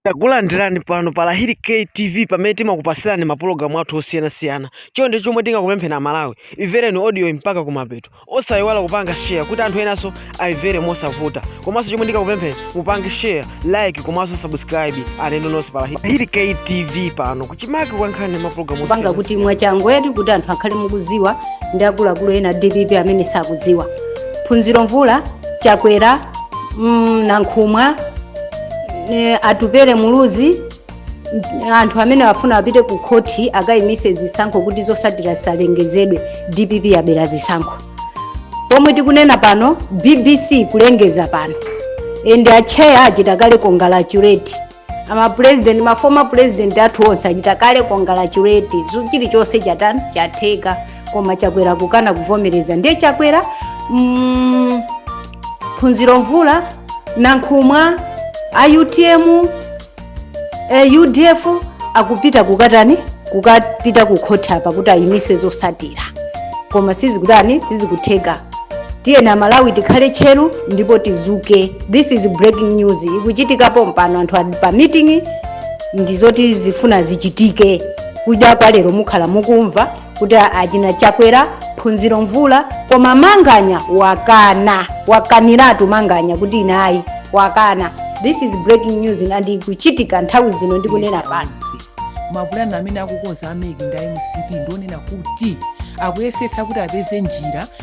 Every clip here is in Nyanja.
Takulandirani pano pa Lahiri K TV pamene timakupasirani mapulogalamu athu osiyanasiyana. Chonde chomwe tingakupempheni Amalawi, imvereni audioyi mpaka kumapeto. Osayiwala kupanga share kuti anthu enanso ayimvere mosavuta. Komanso chomwe ndingakupempheni mupange share, like komanso subscribe alendo nonse pa Lahiri Lahiri K TV pano kuchimake kwa nkhani ndi mapulogalamu kupanga kuti osiyanasiyana. mwachangwedi kuti anthu akhale akuziwa ndi akuluakulu ena dpp amene sakudziwa phunziro mvula, chakwera mm, nankhumwa eh, atupele muluzi mm, anthu amene afuna apite ku khoti akayimitse zisankho kuti zotsatira zisalengezedwe dpp yabera zisankho pomwe tikunena pano bbc kulengeza pano and acheya achita kale congratulate ama president ma former president athu onse achita kale congratulate Zu- chilichonse chatani chatheka koma chakwera kukana kuvomereza ndiye chakwera mm, phunziro mvula nankhumwa a utm eh, udf akupita kukatani kukapita kukhoti apa kuti ayimise zotsatira koma sizikutani sizikutheka tiyeni amalawi tikhale tcheru ndipo tidzuke this is breaking news ikuchitika pompano anthu ali pa meeting ndizoti zifuna zichitike kuja kwa lero mukhala mukumva kuti achina Chakwera phunziro mvula koma manganya wakana wakaniratu manganya kuti ine ayi wakana this is breaking news and ikuchitika nthawi zino ndikunena pano mapulani amene akukonza a MEC ndi a mcp ndi onena kuti akuyesetsa kuti apeze njira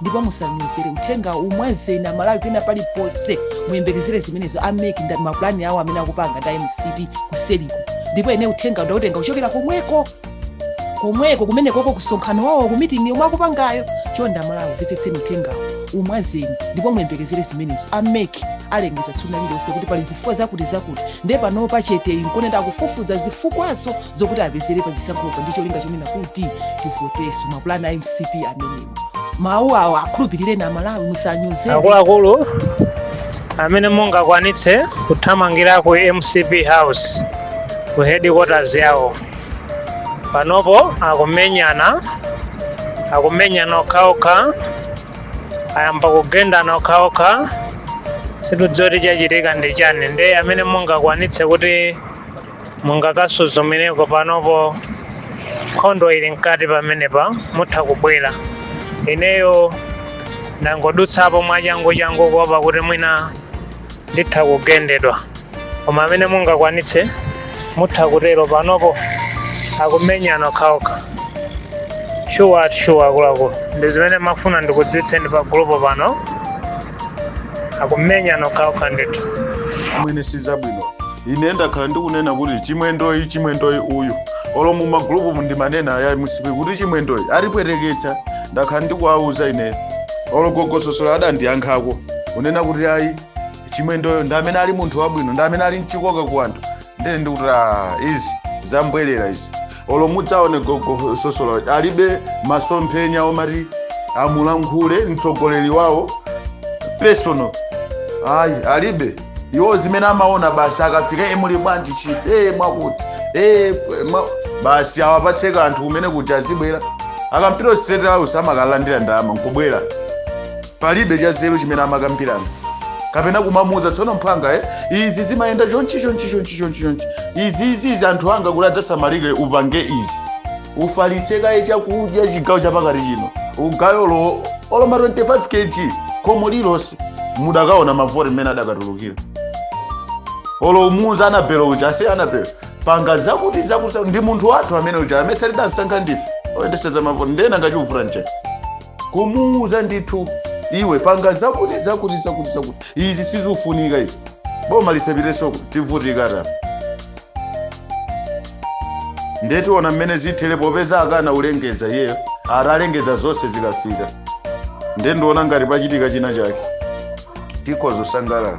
ndipo musanyozere uthenga umwazeni amalawi pena paliponse muyembekezere zimenezo a MEC ndi mapulani awo amene akupanga ndi mcp kuseriku ndipo ine uthenga ndautenga kuchokera komweko komweko kumene koko kumsonkhano wawo kumitingi yomwe akupangayo chonde amalawi mvetsetseni uthengawo umwazeni ndipo muyembekezere zimenezo a MEC alengeza tsiku lina lililonse kuti pali zifukwa zakuti zakuti nde pano pachete ukuonamu akufufuza zifukwazo zokuti apezere pa chisankhopa ndi cholinga chonena kuti tivotenso mapulani a mcp amenewo mawu awo akhulupirireni amalawi musanyoze akuluakulu amene mungakwanitse kuthamangira ku mcp house ku headquarters yawo panopo akumenyana akumenyana okhaokha ayamba kugendana okhaokha sindikudziwa kuti chachitika ndi chani ndiye amene mungakwanitse kuti mungakasuzumireko panopo nkhondo ili mkati pamenepa mutha kubwera ineyo ndangodutsapo mwachanguchangu kuopa kuti mwina nditha kugendedwa koma amene mungakwanitse mutha kutero panopo akumenyana okhaokha shuwa ati shuwa akuluakulu ndi zimene ndimafuna ndikudziwitseni pa gulupo pano akumenyana okhaokha ndithu amwene sizili bwino ine ndakhala ndikunena kuti chimwendoyi chimwendoyi uyu olo mu magulupu ndimanena aya mcp kuti chimwendoyi atipweteketsa ndakhala ndikuwauza ineyo olo gogososola adandiyankhako kunena kuti ayi chimwendoyo ndi amene ali munthu wabwino ndi amene ali mchikoka ku anthu ndiye ndikuti "Ah, izi zam'bwerera izi olo mudzaone gogo sosola alibe masomphenya omati amulankhule mtsogoleri wawo personal ayi alibe iwo zimene amaona basi akafika e muli bwanji chief e mwakuti e mwa... basi awapatse kanthu kumene kuti azibwera akapita state house amakalandira ndalama n'kubwera palibe chazeru chimene amakambirana kapena kumamuuza tsono mphwanga eh, izi zimayenda chonchi chonchi chonchi chonchi chonchi izi izi izi anthu anga kuti adzasamalike upange izi ufalitse kaye chakudya chigawo chapakati chino ugawe olo olo ma 25 kg khomo lilonse mudakaona mavoti mmene adakatulukira olo kumuuza anabelo uja ase anabelo panga zakuti zakuti ndi munthu wathu amene uja amene sitidamsankhe ndife oyendetsera mavoti ndena ngachikufuna nchete kumuuza ndithu iwe panga zakuti zakuti zakuti zakuti izi sizikufunika izi boma lisapitenso tivutika ta nde tiona mmene zithere popeza akana kulengeza iyeyo atalengeza zonse zikafika nde ndiona ngati pachitika china chake tikhoza kusangalala